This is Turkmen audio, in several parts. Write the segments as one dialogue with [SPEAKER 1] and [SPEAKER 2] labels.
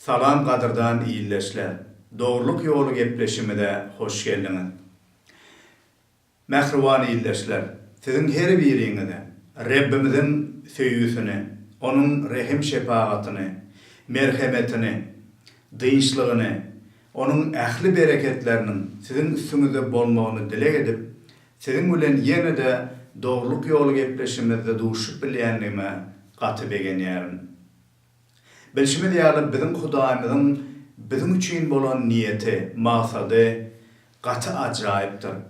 [SPEAKER 1] Salam gadyrdan ildeşler! Dogrulyk ýoly gepleşimize hoş geldiňiz. Mähriban ildeşler, siziň her biriňize Rebbimiziň söýgüsini, Onuň rehim-şepagatyny, merhemetini, dynçlygyny, Onuň ähli bereketleriniň siziň üstüňizde bolmagyny dileg edip, siziň bilen ýene-de Dogrulyk ýoly gepleşimizde duşup bilýändigime gaty begenýärin. Bilşimiz ýaly, biziň Hudaýymyzyň biziň üçin bolan niýeti, maksady gaty ajaýypdyr.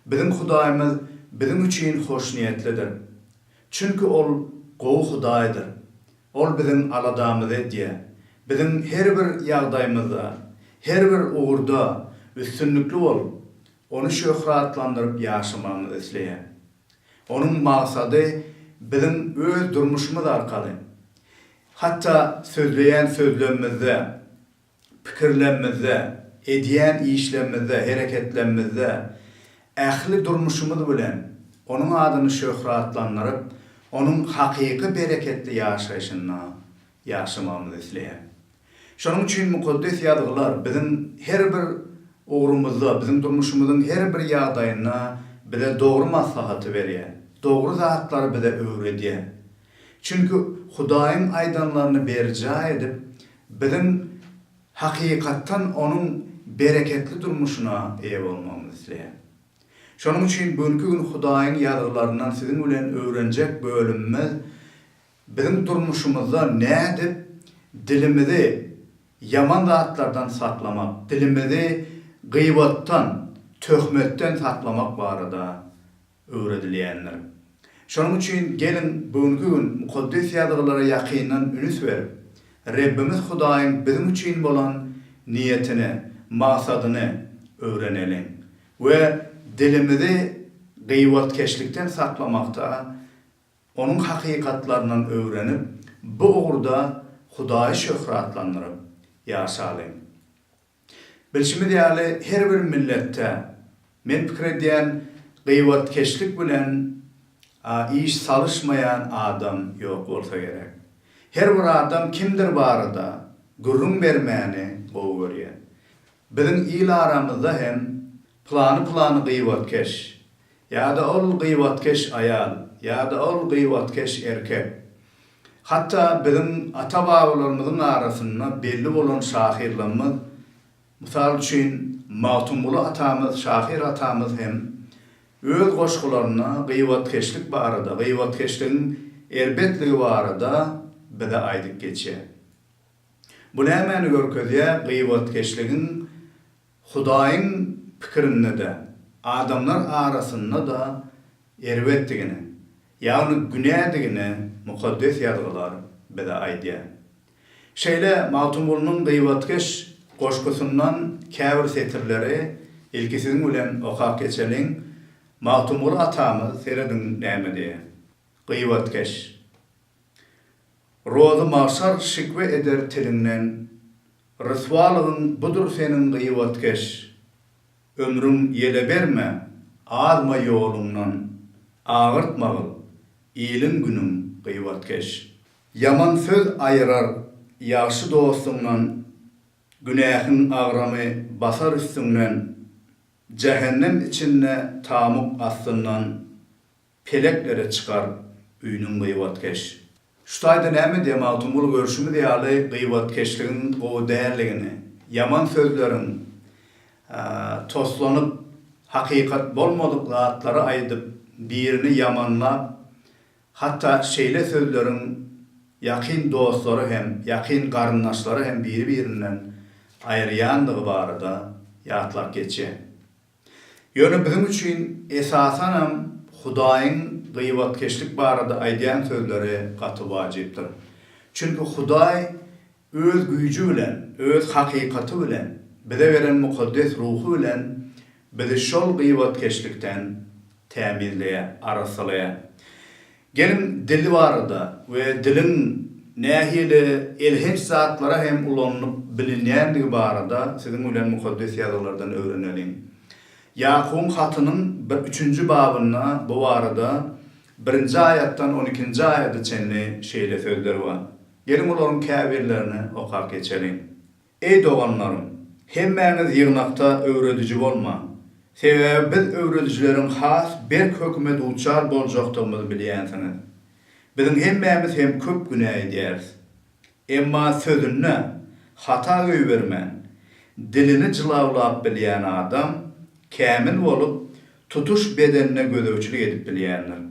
[SPEAKER 1] Biziň Hudaýymyz biziň üçin hoşniýetlidir. Çünki Ol gowy Hudaýdyr. Ol biziň aladamyzy edýär. Biziň her bir ýagdaýymyzda, her bir ugurda üstünlikli bolup, Ony şöhratlandyryp ýaşamagymyzy isleýär. Onuň maksady biziň öz durmuşymyz arkaly, hatda sözleýän sözlemimizde, pikirlemimizde, edýän işlemimizde, hereketlemimizde, ähli durmuşymyz bilen Onuň adyny şöhratlandyryp, Onuň hakyky bereketli ýaşaýşynda ýaşamagymyzy isleýär. Şonuň üçin Mukaddes Ýazgylar biziň her bir ugrumyzda, biziň durmuşymyzyň her bir ýagdaýynda bize dogry maslahaty berýär, dogry zatlary bize öwredýär. Çünki Hudaýyň aýdanlaryny berjaý edip, biziň hakykatdan Onuň bereketli durmuşyna eýe bolmagymyzy isleýär. Şonuň üçin bu günki gün Hudaýyň Ýazgylaryndan siziň bilen öwrenjek bölümimiz Biziň durmuşymyzda nädip dilimizi ýaman zatlardan saklamak, dilimizi gyýbatdan, töhmetden saklamak barada öwredilýändir. Şonuň üçin geliň bu günki gün Mukaddes Ýazgylara ýakyndan ünüs berip, Rebbimiz Hudaýyň biziň üçin bolan niýetini, maksadyny öwreneliň we dilimizi gyýbatkeşlikden saklamakda onuň hakykatlaryndan öwrenip, bu ugurda Hudaýy şöhratlandyryp ýaşalyň. Bilşimiz ýaly, her bir milletde, men pikir edýän, gybatkeşlik bilen iş salyşmaýan adam ýok bolsa gerek. Her bir adam kimdir barada gürrüň bermäni gowy görýär. Biziň il aramyzda hem plany-plany gybatkeş ýa-da ol gybatkeş aýal ýa-da ol gybatkeş erkek. Hatda biziň ata-babalarymyzyň arasynda belli bolan şahyrlarymyz, mysal üçin, Magtymguly atamyz, şahyr atamyz hem öz goşgularynda gybatkeşlik barada, gybatkeşligiň erbetligi barada bize aýdyp geçýär. Bu nämäni görkezýär? Gybatkeşligiň Hudaýyň pikirinde-de, adamlar arasynda-da erbetdigini, ýagny günädigini Mukaddes Ýazgylar bize aýdýar. Şeýle Magtymgulynyň Gybatkeş goşgusyndan käbir setirleri ilki siziň bilen okap geçeliň. Magtymguly atamyz, serediň näme diýýär, Gybatkeş, Rozy magşar şikwe eder tiliňden, Ryswalygyň budur seniň gyýbatkeş. Ömrüň ýele berme, azma ýoluňdan, Agyrtmagil, iliň-günüň gyýbatkeş. Ýaman söz aýyrar ýagşy dostuňdan, Günähiň agramy basar üstüňden, Jähennem içinde tamuk astyndan. Peleklere çykar üýnüň gyýbatkeş. Şu taýda näme diýýä Magtymguly görşümiz ýaly gyýbatkeşligiň gowy däldigini, ýaman sözleriň toslanyp hakykat bolmadyk zatlary aýdyp birini ýamanlap hatda şeýle sözleriň ýakyn dostlary hem ýakyn garyndaşlary hem biri birinden aýyrýandygy barada ýatlap geçýän. Ýöne biziň üçin esasanam Hudaýyň gybatkeşlik barada aýdýan sözleri gaty wajypdyr. Çünki Hudaý Öz güýji bilen, Öz hakykaty bilen, bize beren mukaddes ruhy bilen bizi şol gybatkeşlikden tämizleýär, arassalaýar. Geliň dil barada we diliň nähili elhenç zatlara hem ulanylyp bilinýändigi barada siziň bilen Mukaddes Ýazgylardan öwreneliň. Ýakubyň hatynyň bir üçünji babynda bu barada birinji aýatdan on ikinji aýada çenli şeýle sözler bar. Geliň olaryň käbirlerini okap geçeliň. Eý doganlarym, hemmäňiz ýygnakda öwrediji bolmaň. Sebäbi biz öwredijileriň has berk höküme duçar boljakdygymyzy bilýänsiňiz. Biziň hemmämiz hem köp günä edýäris. Emma sözünde hata goýbermän, dilini jylawlap bilýän adam kämil bolup, tutuş bedenine gözegçilik edip bilýändir.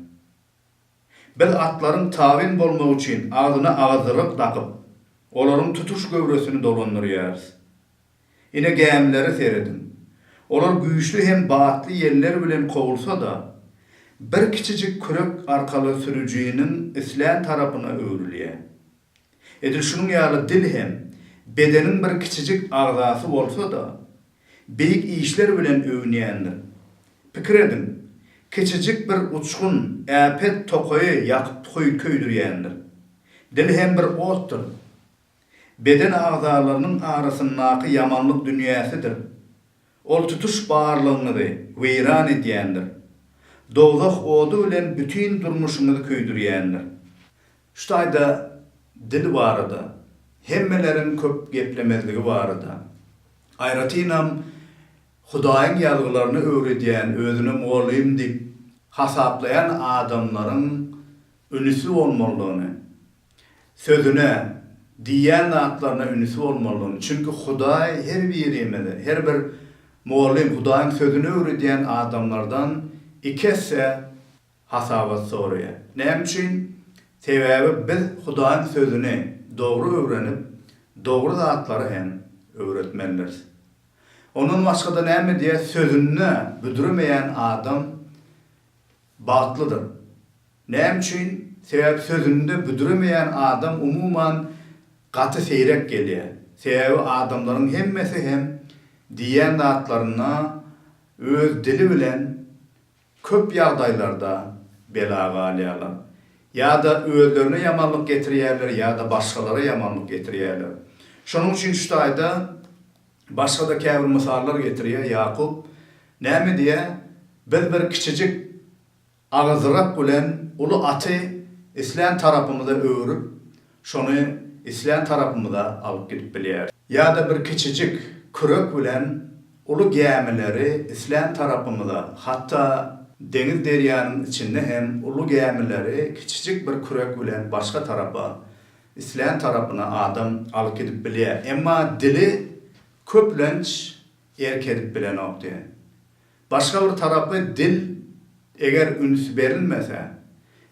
[SPEAKER 1] Biz atlaryň tabyn bolmagy üçin agzyna agazdyryk dakyp, olaryň tutuş göwresini dolandyrýarys. Ine gämilere serediň. Olar güýçli hem batly ýeller bilen kowulsa-da, bir kiçijik kürek arkaly sürüjiniň islän tarapyna öwrülýär. Edil şunuň ýaly dil hem bedeniň bir kiçijik agzasy bolsa-da, beýik işler bilen öwünýändir. Pikir ediň, kiçijik bir uçgun äpet tokaýy ýakyp köýdürýändir. Dil hem bir otdur. Beden agzalarynyň arasyndaky ýamanlyk dünýäsidir. Ol tutuş barlygyňyzy weýran edýändir. Dowzah ody bilen bütin durmuşyňyzy köýdürýändir. Şu taýda dil barada, hemmeleriň köp geplemezligi barada, aýratynam Hudaýyň ýazgylaryny öwredýän, özüni mugallym diýip hasaplaýan adamlaryň ünüsi bolmalydygyny, sözüne, diýýän zatlaryna ünüsi bolmalydygyny, çünki Hudaý her birimize, her bir mugallym, Hudaýyň sözüni öwredýän adamlardan iki esse hasabat soraýar. Näme üçin? Sebäbi biz Hudaýyň Sözüni dogry öwrenip, dogry zatlary hem öwretmelidiris. Ondan başga-da näme diýýär, Sözünde büdremeýän adam bagtlydyr. Näme üçin? Sebäbi Sözünde büdremeýän adam umuman gaty seýrek gelýär. Sebäbi adamlaryň hemmesi hem diýýän zatlaryna öz dili bilen Köp ýagdaýlarda bela galýarlar. Ýa-da özlerine ýamanlyk getirýärler, ýa-da başgalara ýamanlyk getirýärler. Şonuň üçin şu taýda başga-da käbir mysallar getirýär Ýakup. Näme diýýär? Biz bir kiçijik agyzrak bilen uly aty islän tarapymyza öwrüp, Şony islän tarapymyza alyp gidip bilýäris. Ýa-da bir kiçijik kürek bilen uly gämileri islän tarapymyza, hatda deňiz-derýanyň içinde hem uly gämileri kiçijik bir kürek bilen başga tarapa, islän tarapyna adam alyp gidip bilýär. Emma dili köplenç erk edip bilenokdy. Başga bir tarapy dil eger üns berilmese,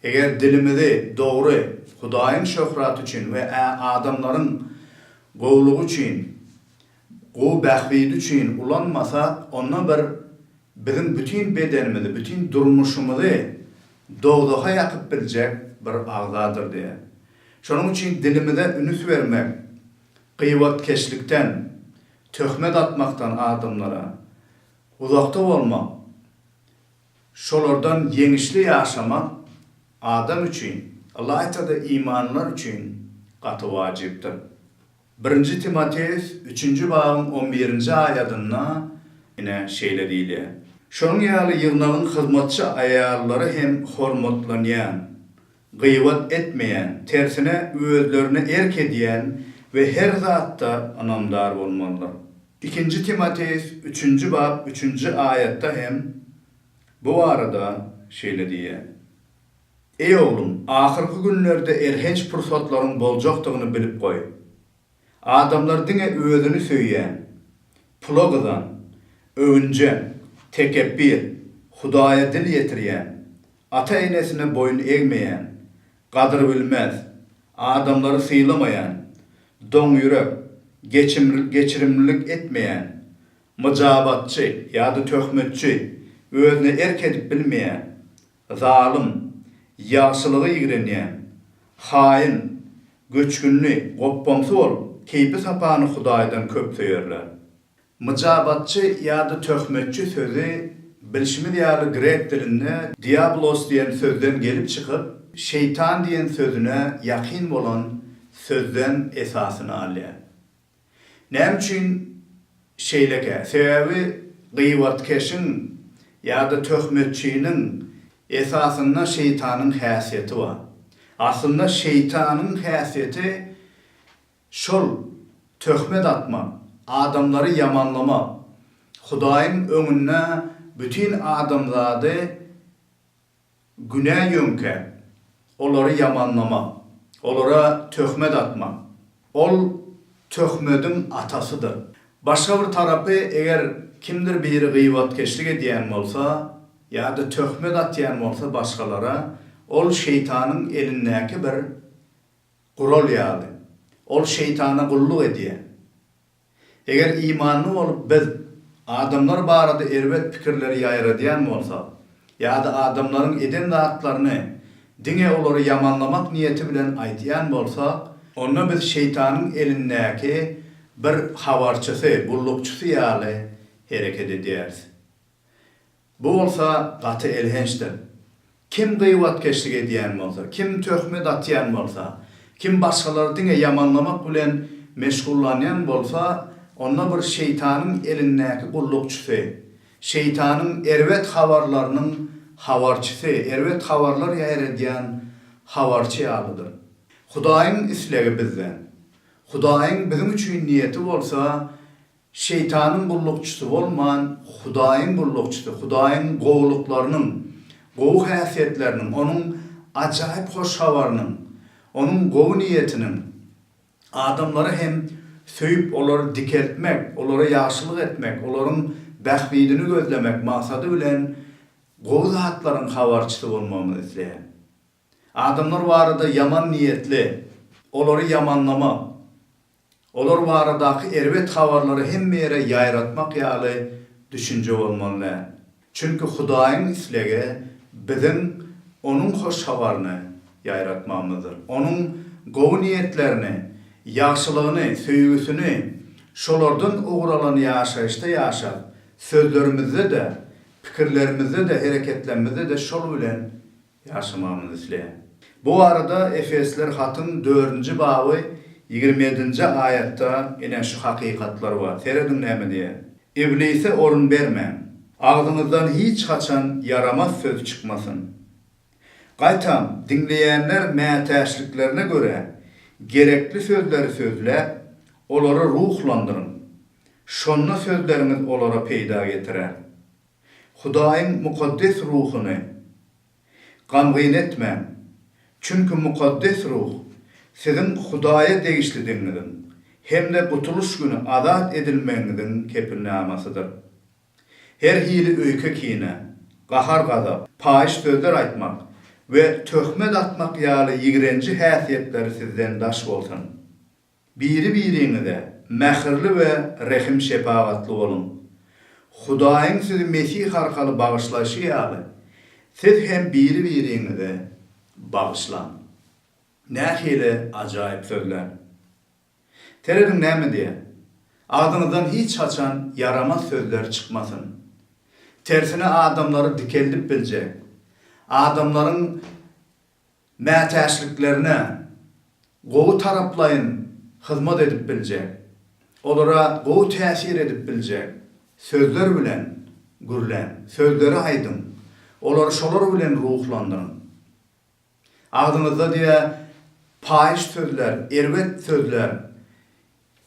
[SPEAKER 1] eger dilimizi dogry Hudaýyň şöhraty üçin we ä adamlaryň gowulygy üçin, gowy bähbidi üçin ulanmasak, onda bir biziň bütin bedenimizi, bütin durmuşymyzy dowzaha ýakyp biljek bir agzadyr diýe. Şonuň üçin dilimize ünüs bermek, gybatkeşlikden, töhmet atmakdan adamlara, Uzakda bolmak, şolardan ýeňişli ýaşamak adam üçin, ylaýta-da imanlylar üçin gaty wajypdyr. Birinji Timoteus üçünji babyň on birinji aýadynda ine şeýle diýilýär, Şonuň ýaly ýygnagyň hyzmatçy aýallary hem hormatlanýan, gybat etmeýän, tersine özlerine erk edýän we her zatda ynamdar bolmalydyr. Ikinji Timoteus üçünji bap üçünji aýatda hem bu barada şeýle diýýär, Eý oglum, ahyrky günlerde elhenç pursatlaryň boljakdygyny bilip goý. Adamlar diňe özüni söýýän, pula gyzan, öwünjeň, tekepbir, Hudaýa dil ýetirýän, ata-enesine boýun egmeýän, gadyrbilmez, adamlary sylamaýan, doňýürek, geçirimlilik etmeýän, myjabatçy ýa-da töhmetçi, özüne erk edip bilmeýän, Zalym, ýagşylygy ýigrenýän, haýyn, göçgünli, gopbamsy bolup, keýpi-sapany Hudaýdan köp söýerler. Myjabatçy ýa-da töhmetçi sözi, bilşimiz ýaly, grek dilinde diablos diýen sözden gelip çykyp, şeýtan diýen sözüne ýakyn bolan sözden esasyny alýar. Näme üçin şeýlekä? Sebäbi gyýbatkeşiň ýa-da töhmetçiniň esasynda şeýtanyň häsiýeti bar. Aslynda şeýtanyň häsiýeti şol töhmet atmak, adamlary ýamanlamak, Hudaýyň öňünde bütin adamzady Günä ýöňkä, olary ýamanlamak, olara töhmet atmak, ol töhmediň atasydyr. Başga bir tarapy, eger kimdir biri gyýbatkeşlik edýän bolsa ýa-da töhmet atýan bolsa başgalara, ol şeýtanyň elindäki bir gural ýaly. Ol şeýtana gulluk edýär. Eger imanly bolup biz adamlar barada erbet pikirleri ýaýradýan bolsak ýa-da adamlaryň eden zatlaryny diňe olary ýamanlamak niýeti bilen aýtýan bolsak, onda biz şeýtanyň elindäki bir habarçysy, gullukçysy ýaly hereket edýäris. Bu bolsa gaty elhençdir. Kim gyýwatkeşlik edýän bolsa, kim töhmet atýan bolsa, kim başgalary diňe ýamanlamak bilen meşgullanýan bolsa, onda bir şeýtanyň elindäki gullukçysy, şeýtanyň erbet habarlarynyň habarçysy, erbet habarlar ýaýradýan habarçy ýalydyr. Hudaýyň islegi bizden. Hudaýyň biziň üçin niýeti bolsa, Şeýtanyň gullukçysy bolman, Hudaýyň gullukçysy, Hudaýyň gowulyklarynyň, gowy häsiýetleriniň, Onuň ajaýyp hoş habarynyň, Onuň gowy niýetiniň, adamlary hem söýüp, olary dikeltmek, olara ýagşylyk etmek, olaryň bähbidini gözlemek maksady bilen gowy zatlaryň habarçysy bolmagyny isleýär. Adamlar barada ýaman niýetli, olary ýamanlamak, olar baradaky erbet habarlary hemme ýere ýaýratmak ýaly düşünje bolmaly däl. Çünki Hudaýyň islegi biziň Onuň hoş habaryny ýaýratmagymyzdyr. Onuň gowy niýetlerini, ýagşylygyny, söýgüsini şolardan ugur alan ýaşaýyşda ýaşap, sözlerimizde-de, pikirlerimizde-de, hereketlerimizde-de şol bilen Ýaşamagymyzy isleýän. Bu barada Efesler hatyň dördünji baby ýigrimi ýedinji aýatda ine şu hakykatlar bar. Serediň näme diýýär. Iblise orun bermäň. Agzyňyzdan hiç haçan ýaramaz söz çykmasyn. Gaýtam, diňleýänler mätäçliklerine görä gerekli sözleri sözläp, olary ruhlandyryň. Şonda sözleriňiz olara peýda getirer. Hudaýyň mukaddes ruhuny gamgyn etmäň, çünki mukaddes ruh siziň Hudaýa degişlidigiňiziň hem-de gutulyş güni azat edilmegiňiziň kepilnamasydyr. Her hili öýke-kine, gahar-gazap, paýyş sözler aýtmak we töhmet atmak ýaly ýigrenji häsiýetleri sizden daş bolsun. Biri-biriňize mähirli we rehim-şepagatly boluň. Hudaýyň sizi Mesih arkaly bagyşlaýşy ýaly, siz hem biri-biriňizi bagyşlaň. Nähili ajaýyp sözler! Serediň näme diýýär, Agzyňyzdan hiç haçan ýaramaz sözler çykmasyn. Tersine adamlary dikeldip biljek, adamlaryň. mätäçliklerine gowy taraplaýyn hyzmat edip biljek, olara gowy täsir edip biljek sözler bilen gürläň, sözleri aýdyň, olary şolar bilen ruhlandyryň. Agzyňyzda diýe paýyş sözler, erbet sözler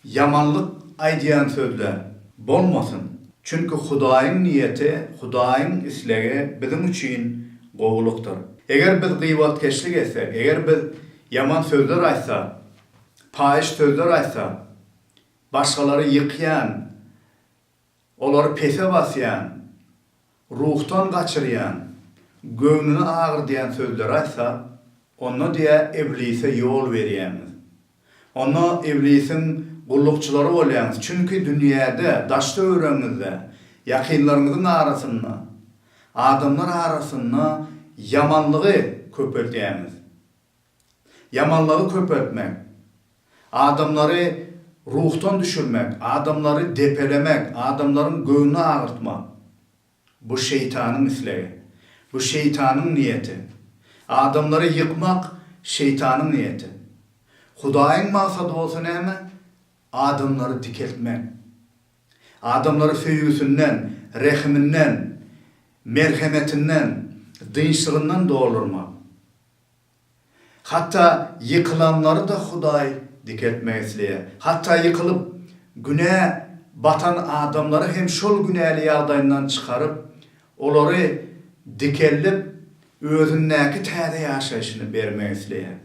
[SPEAKER 1] Ýamanlyk aýdýan sözle bolmasyn. Çünki Hudaýyň niýeti, Hudaýyň islegi biziň üçin gowulykdyr. Eger biz gybatkeşlik etsek, eger biz ýaman sözler aýtsak, paýyş sözler aýtsak, başgalary ýykýan Olary pese basýan, ruhdan gaçyrýan, göwnüni agyrdýan sözleri aýtsa, onda diýýär Iblise ýol berýäňiz. Onda Iblisiň gullukçylary bolýaňyz, çünki dünýäde, daş-töweregiňizde, ýakynlaryňyzyň arasynda, adamlar arasynda ýamanlygy köpeltýäňiz. Ýamanlygy köpeltmek, adamlary ruhdan düşürmek, adamlary depelemek, adamlaryň göwnüni agyrtmak, bu şeýtanyň islegi, bu şeýtanyň niýeti. Adamlary ýykmak şeýtanyň niýeti. Hudaýyň maksady bolsa näme? Adamlary dikeltmek. Adamlary söýgüsinden, rehiminden, merhemetinden, dynçlygyndan doldurmak. Hatda ýykylanlary-da Hudaý dikeltmek isleýär. Hatda ýykylyp, günä batan adamlary hem şol günäli ýagdaýyndan çykaryp, olary dikeldip, Özündäki täze ýaşaýşyny bermek isleýär.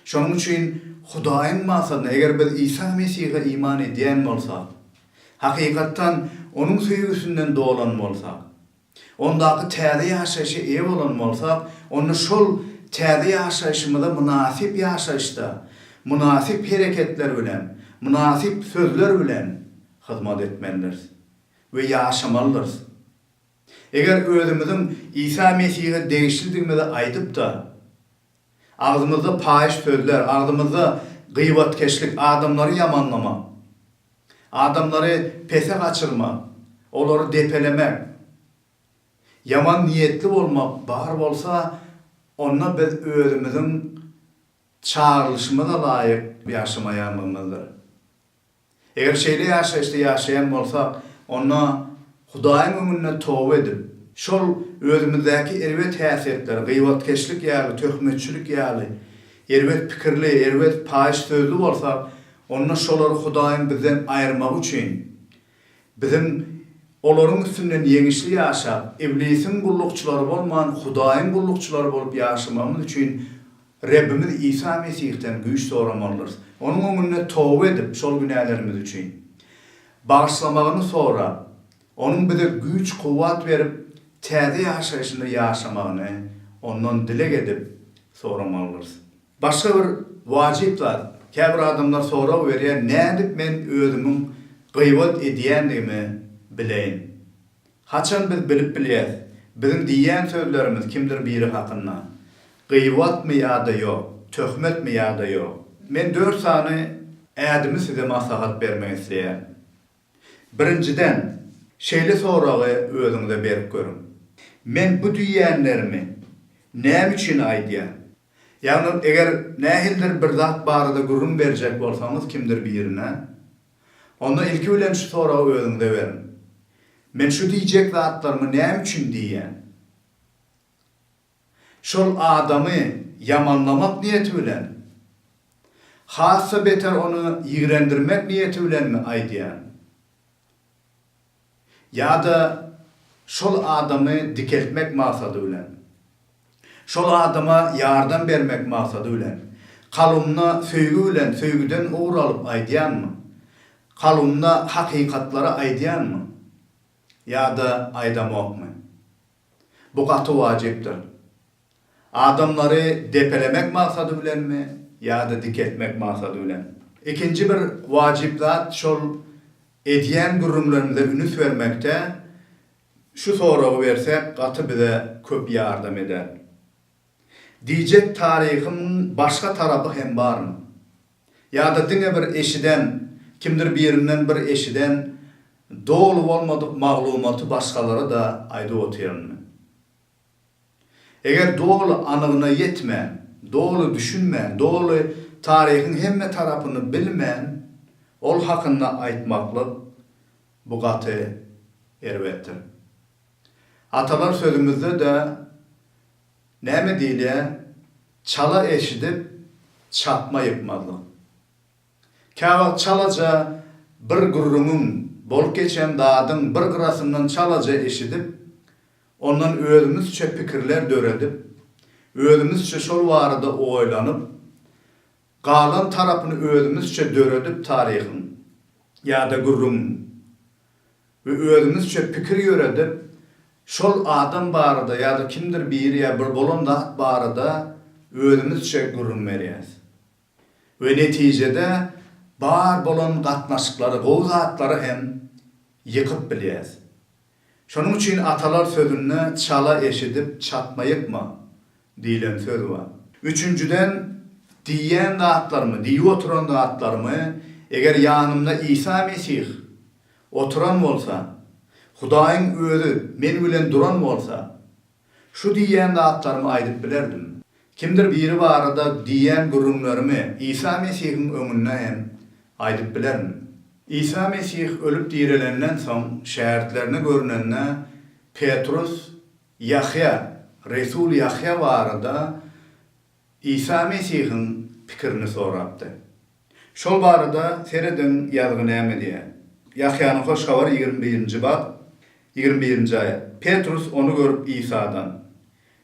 [SPEAKER 1] Şonuň üçin Hudaýyň maksadyna, eger biz Isa Mesihe iman edýän bolsak, hakykatdan Onuň söýgüsinden dolan bolsak, Ondaky täze ýaşaýşa eýe bolan bolsak, onda şol täze ýaşaýşymyza mynasyp ýaşaýyşda, mynasyp hereketler bilen, mynasyp sözler bilen hyzmat etmelidiris we ýaşamalydyrys. Eger özümiziň Isa Mesihe degişlidigimizi aýdyp-da, Agzymyzda paýyş sözler, agzymyzda gyýbatkeşlik, adamlary ýamanlamak, adamlary pese gaçyrmak, olary depelemek, ýaman niýetli bolmak bar bolsa, onda biz özümiziň çagyrylyşymyza laýyk ýaşamaýanlygymyzdyr. Eger şeýle ýaşaýyşda ýaşaýan bolsak, onda Hudaýyň öňünde toba edip, şol özümizdäki erbet häsiýetler, gyýbatkeşlik ýaly, töhmetçilik ýaly, erbet pikirli, erbet paýyş sözli bolsak, onda şolary Hudaýyň bizden aýyrmagy üçin, biziň olaryň üstünden ýeňişli ýaşap, iblisiň gullukçylary bolman, Hudaýyň gullukçylary bolup ýaşamagymyz üçin Rebbimiz Isa Mesihden güýç soramalydyrys. Onuň öňünde toba edip, şol günälerimiz üçin bagyşlamagyny sorap, Onuň bize güýç-kuwwat berip, täze ýaşaýşynda ýaşamagyny Ondan dileg edip, soramalydyrys. Başga bir wajyp zat, käbir adamlar sorag berýär, Nädip men özümiň gybat edýändigimi bileýin? Haçan biz bilip bilýäs, biziň diýýän sözlerimiz kimdir biri hakynda, gybatmy ýa-da ýok, töhmetmi ýa-da ýok? Men dört sany ädimi size maslahat bermek isleýän. Birinjiden, şeýle soragy özüňize berip görüň, Men bu diýýänlerimi näme üçin aýdýan? Ýagny, eger nähilidir bir zat barada gürrüň berjek bolsaňyz kimdir birine, Onda ilki bilen şu soragy özüňize beriň, Men şu diýjek zatlarymy näme üçin diýýän? Şol adamy ýamanlamak niýeti bilen, has-da beter ony ýigrendirmek niýeti bilenmi aýdýan? ýa-da şol adamy dikeltmek maksady bilen, şol adama ýardam bermek maksady bilen, kalbymda söýgi bilen söýgüden ugur alyp aýdýanmy? Kalbymda hakykatlary aýdýanmy? Ýa-da aýdamokmy? Bu gaty wajypdyr. Adamlary depelemek maksady bilenmi ýa-da dikeltmek maksady bilen? Ikinji bir wajyp zat şol edýän gürrüňlerimize ünüs bermekde şu soragy bersek gaty bize köp ýardam eder. Diýjek taryhymyň başga tarapy hem barmy? Ýa-da diňe bir eşiden, kimdir birinden bir eşiden doly bolmadyk maglumaty başgalara-da aýdyp otyrynmy? Eger doly anygyna ýetmän, doly düşünmän, doly taryhyň hemme tarapyny bilmän ol hakynda aýtmaklyk, bu gaty erbetdir. Atalar sözümizde-de Näme diýilýär, Çala eşidip, çapma ýykmazlyk. Käwagt çalaja bir gürrüňiň, bolup geçen zadyň bir gyrasyndan çalaja eşidip, ondan özümizçe pikirler döredip, özümizçe şol barada oýlanyp, galan tarapyny özümizçe döredip taryhyň ýa-da gürrüňiň, we özümizçe pikir ýöredip, şol adam barada ýa-da kimdir biri ýa bir bolan zat barada özümizçe gürrüň berýäs. We netijede bar bolan gatnaşyklary, gowy zatlary hem ýykyp bilýäs. Şonuň üçin atalar sözünde çala eşidip çatma ýykma, Diýlen söz bar. Üçünjiden, diýýän zatlarymy, diýip oturan zatlarymy, eger ýanymda Isa Mesih oturan bolsa, Hudaýyň Özi men bilen duran bolsa, şu diýýän zatlarymy aýdyp bilerdim. Kimdir biri barada diýýän gürrüňlerimi Isa Mesihiň öňünde hem aýdyp bilerin. Isa Mesih ölüp direlenden soň, şägirtlerine görnende, Petrus Ýahýa, Resul Ýahýa barada Isa Mesihiň pikirini sorapdy. Şol barada serediň ýazgy näme diýýär. Ýahýanyň Hoş Habary ýigrimi birinji bap, ýigrimi birinji aýat, Petrus ony görüp Isadan,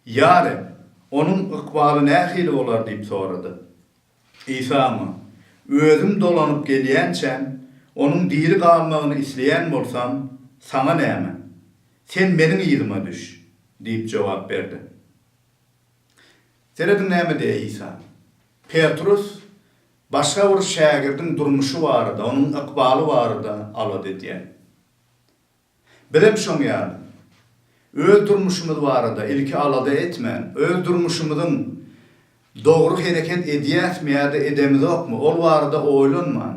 [SPEAKER 1] Ýa Reb, onuň ykbaly nähili bolar diýip sorady. Isamy, Özüm dolanyp gelýänçäm, onuň diri galmagyny isleýän bolsam, saňa näme? Sen meniň yzyma düş! diýip jogap berdi. Serediň näme diýýär Isa. Petrus başga bir şägirdiň durmuşy barada, onuň ykbaly barada alada edýär. Bizem şoň ýaly. Öz durmuşymyz barada ilki alada etmän, öz durmuşymyzyň dogry hereket edýäsmi ýa-da edemizokmy, ol barada oýlanman,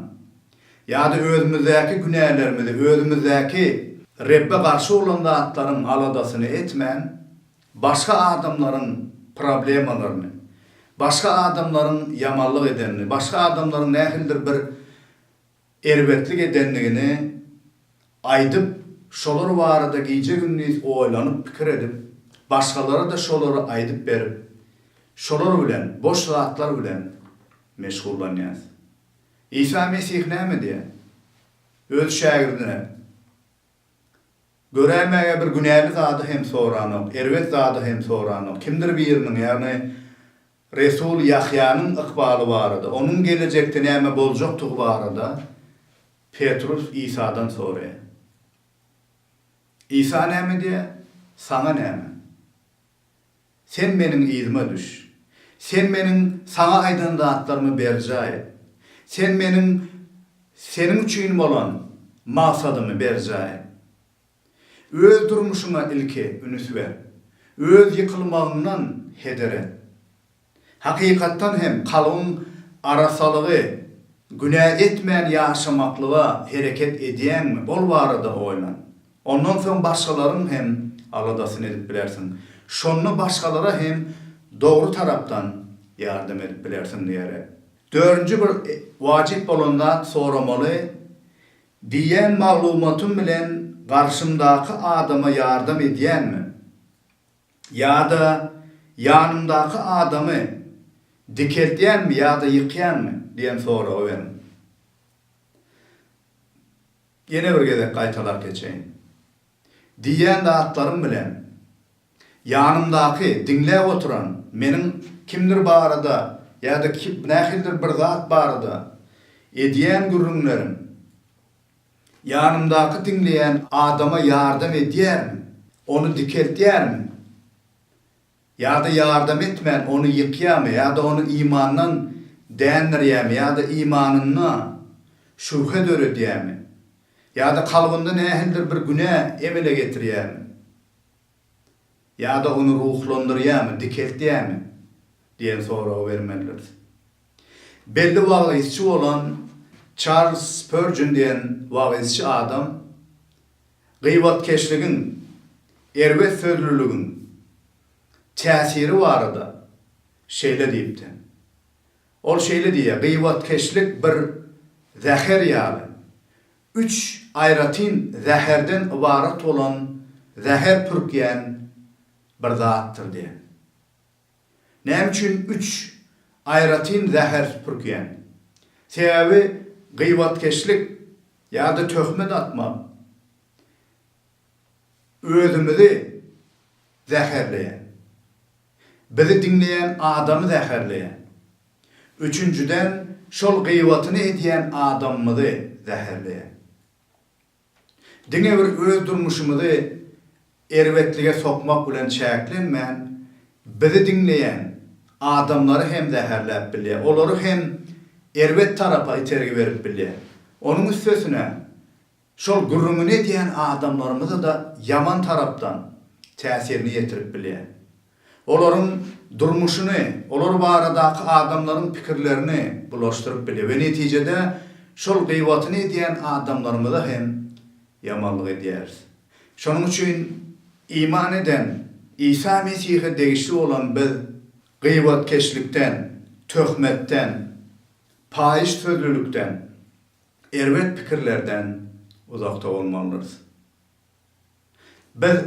[SPEAKER 1] ýa-da özümizdäki günälerimizi, özümizdäki. Rebbe garşy bolan zatlaryň aladasyny etmän, başga adamlaryň problemalaryny, başga adamlaryň ýamanlyk edenini, başga adamlaryň nähilidir bir erbetlik edendigini aýdyp, şolar barada gije-gündiz oýlanyp pikir edip, başgalara-da şolary aýdyp berip, şolar bilen, boş zatlar bilen meşgullanýas. Isa Mesih näme diýýär? Öz şägirdine, Göräýmäge bir günäli zady hem soranok, erbet zady hem soranok. Kimdir biriniň, ýagny Resul Ýahýanyň ykbaly barada, onuň gelejekde näme boljakdygy barada Petrus Isadan soraýar. Isa näme diýýär? Saňa näme? Sen Meniň yzyma düş. Sen Meniň saňa aýdan zatlarymy berjaý et. Sen Meniň seniň üçin bolan maksadymy berjaý et. Öz durmuşyňa ilki ünüs ber. Öz ýykylmagyňdan heder et. Hakykatdan hem kalbyň arasalygy, günä etmän ýaşamaklyga hereket edýäňmi, ol barada oýlan. Ondan soň başgalaryň hem aladasyny edip bilersiň. Şonda başgalara hem dogry tarapdan ýardam edip bilersiň diýer. Dördünji bir wajyp bolan zat soramaly Diýen maglumatym bilen garşymdaky adama ýardam edýänmi? Ýa-da ýanymdaky adamy dikeltýänmi ýa-da ýykýanmy? diýen soragy beriň. Ýene bir gezek gaýtalap geçeýin. Diýýän zatlarym bilen ýanymdaky diňläp oturan meniň kimdir barada ýa-da nähilidir bir zat barada edýän gürrüňlerim ýanymdaky diňleýän adama ýardam edýärmi, ony dikeltýärmi? Ýa-da ýardam etmän ony ýykýarmy, ýa-da ony imandan dändirýärmi, ýa-da imanynda şübhe döredýärmi, ýa-da kalbynda nähilidir bir günä emele getirýärmi, ýa-da ony ruhlandyrýarmy, dikeltýärmi? diýen soragy bermelidiris. Belli wagyzçy bolan Çarlz Spörjin diýen wagyzçy adam Gybatkeşligiň, erbet sözlüligiň täsiri barada şeýle diýipdi. Ol şeýle diýýär, Gybatkeşlik bir zäher ýaly, üç aýratyn zäherden ybarat bolan zäher pürkýän bir zatdyr diýen. Näme üçin üç aýratyn zäher pürkýäň? Sebäbi gyýbatkeşlik ýa-da töhmet atmak özümizi zäherleýär. Bizi diňleýän adamy zäherleýär. Üçünjiden, şol gyýbatyny edýän adamymyzy zäherleýär. Diňe bir öz durmuşymyzy erbetlige sokmak bilen çäklenmän, bizi diňleýän adamlary hem zäherläp bilýär, olary hem erbet tarapa itergi berip bilýär. Onuň üstesine, şol gürrüňini edýän adamlarymyza-da ýaman tarapdan täsirini ýetirip bilýär. olaryň durmuşyny, olar baradaky adamlaryň pikirlerini bulaşdyryp bilýär we netijede şol gyýbatyny edýän adamlarymyza hem ýamanlyk edýäris. Şonuň üçin iman eden Isa Mesihe degişli bolan biz gyýbatkeşlikden, töhmetden, paýyş sözlülikden, erbet pikirlerden uzakda bolmalydyrys. Biz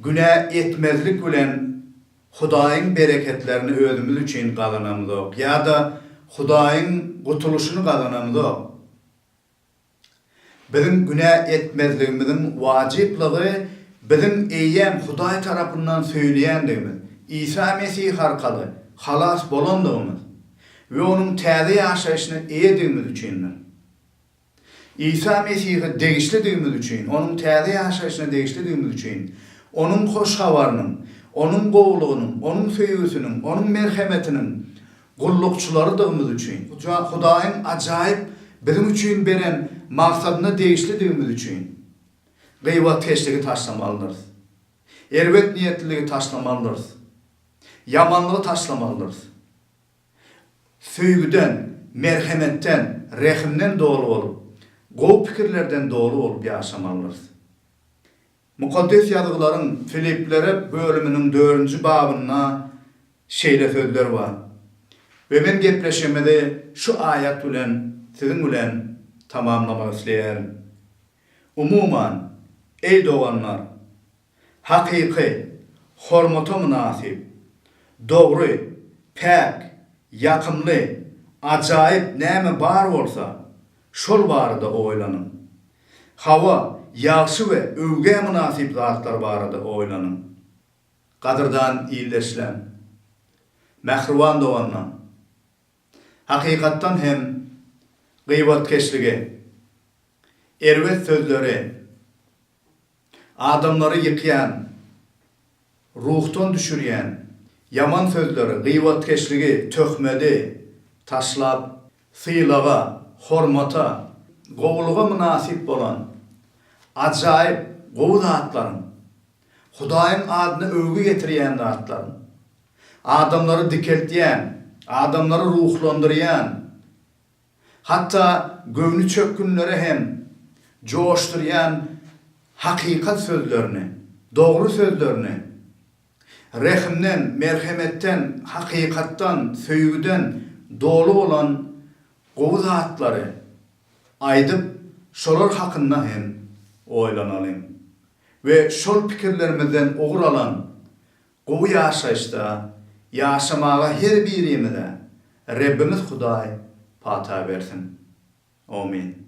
[SPEAKER 1] günä etmezlik bilen Hudaýyň bereketlerini özümiz üçin gazanamyzok ýa-da Hudaýyň gutulyşyny gazanamyzok. Biziň günä etmezligimiziň wajyplygy biziň eýýäm Hudaý tarapyndan söýülýändigimiz, Isa Mesih arkaly halas bolandygymyz we Onuň täze ýaşaýşyna eýedigimiz üçindir. Isa Mesihe degişlidigimiz üçin, Onuň täze ýaşaýşyna degişlidigimiz üçin, Onuň hoş habarynyň, Onuň gowulygynyň, Onuň söýgüsiniň, Onuň merhemetiniň gullukçylarydygymyz üçin, Hudaýyň ajaýyp biziň üçin beren maksadyna degişlidigimiz üçin, gybatkeşligi taşlamalydyrys. Erbet niýetliligi taşlamalydyrys. Ýamanlygy taşlamalydyrys. Söýgüden, merhemetden, rehimden doly bolup, gowy pikirlerden doly bolup ýaşamalydyrys. Mukaddes Ýazgylaryň Filiplere bölüminiň dördünji babynda şeýle sözler bar we men gepleşigimizi şu aýat bilen siziň bilen tamamlamak isleýärin. Umuman, eý doganlar, hakyky, hormata mynasyp, dogry, päk, ýakymly, ajaýyp näme bar bolsa, şol barada oýlanyň. Hawa, ýagşy we öwgä mynasyp zatlar barada oýlanyň. Gadyrdan ildeşler! Mähriban doganlar! Hakykatdan hem, gybatkeşligi, erbet sözleri Adamlary ýykýan, ruhdan düşürýän ýaman sözleri, gyýbatkeşligi, töhmedi taşlap, sylaga, hormata, gowulyga mynasyp bolan, ajaýyp, gowy zatlaryň, Hudaýyň adyna öwgi getirýän zatlaryň, adamlary dikeltýän, adamlary ruhlandyrýan, hatda göwni çökgünleri hem joşdurýan hakykat sözlerini, dogry sözlerini, rehimden, merhemetden, hakykatdan, söýgüden doly bolan gowy zatlary aýdyp, şolar hakynda hem oýlanalyň we şol pikirlerimizden ugur alan Gowy ýaşaýyşda ýaşamaga her birimize Rebbimiz Hudaý pata bersin. Omin.